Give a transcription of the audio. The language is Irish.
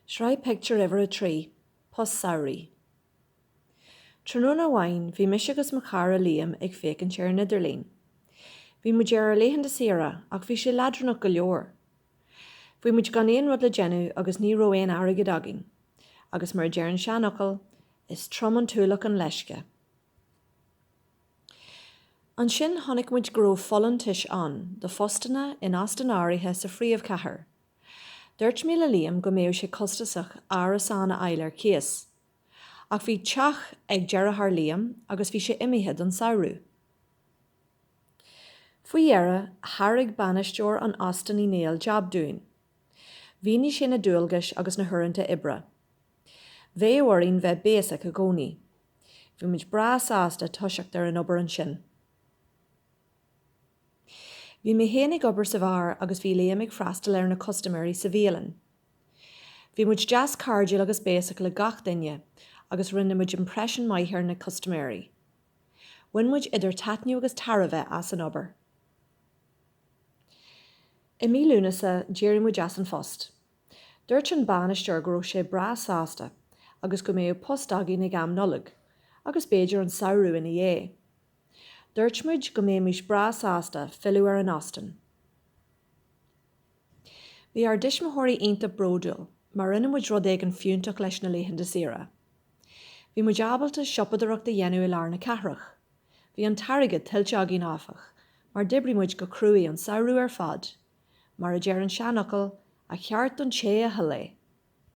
Sraith Pictiúr Uimhir a 3, Post Samhraidh. Tráthnóna amháin bhí mise agus mo chara Liam ag féachaint ar an idirlíon. Bhí muid ar ár laethanta saoire ach bhí sé leadránach go leor. Bhí muid gan aon rud le déanamh agus ní raibh aon airgead againn agus mar a deir an seanfhocal, is trom an t-ualach an leisce. Ansin chonaic muid go raibh folúntais ann do phostanna in óstáin áirithe sa phríomhchathair. Dúirt mé le Liam go mbeadh sé costasach árasán a fháil ar cíos. Ach bhí teach ag deartháir Liam agus bhí sé imithe don samhradh. Faoi dheireadh thairg bainisteoir an Óstáin Uí Néill jab dúinn. Mhínigh sé na dualgais agus na huaireanta oibre. Bheadh orainn bheith béasach i gcónaí. Bhí muid breá sásta toiseacht ar an obair ansin. Bhí mé féin ag obair sa bheár agus bhí Liam ag freastal ar na custaiméirí sa bhialann. Bhí muid deas cairdiúil agus béasach le gach duine agus rinne muid impression maith ar na custaiméirí. Bhain muid idir taitneamh agus tairbhe as an obair. I mí Lúnasa d'éirigh muid as an phost. Dúirt an bainisteoir go raibh sé breá sásta agus go mbeadh post againn ag am Nollag agus b'fhéidir an samhradh ina dhiaidh. Dúirt muid go mbeimis breá sásta filleadh ar an óstán. Bhí ár dtuismitheoirí iontach bródúil mar rinne muid rud éigin fiúntach leis na laethanta saoire. Bhí muid ábalta siopadóireacht a dhéanamh i lár na cathrach. Bhí an t-airgead tuillte againn áfach mar d'oibrigh muid go cruaidh an samhradh ar fad Mar a deir an seanfhocal, a cheart don té a thuill é.